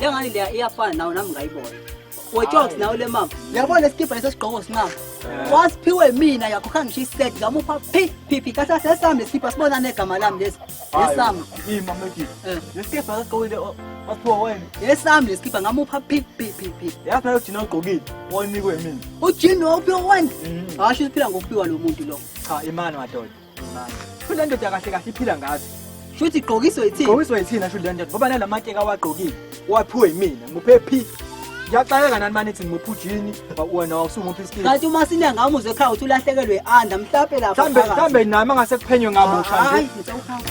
Le ngane leya iyafana nawo nami ngayibona. Wejoks nawo le mama. Yabona lesikibha lesesigqoko sinqaba. Wasiphiwe mina yakho khanga ngisho iset ngamupha phi phi phi kahle kahle sami lesikibha sibona negama lami lesi. Yesami. Ima meki. Eh. Lesikibha lesigqokile o- wasiphiwa wena. Yesami lesikibha ngamupha phi phi phi phi. Yazi nayo ujina ogqokile onikwe mina. Ujini wawuphiwa wena. Mhm. Hasho uphila ngokuphiwa lo muntu lo. Cha imani madoda. Shuthi le ndoda kahle kahle iphila ngazo. Shuthi igqokiswe yithina. Igqokiswe yithina shuthi le ndoda ngoba nalamake kawagqokile. Waphiwe yimina. Muphe phi? Ngiyaxakeka nani mani thini muphi ujini wena wawusumuphi isikini. Kanti uma sinya ngami uze ekhaya uthi ulahlekelwe i-anda mhlape lapha. Mhlambe mhlambe nami angase kuphenywe ngabusha nje. Hayi ngicela ukuhamba.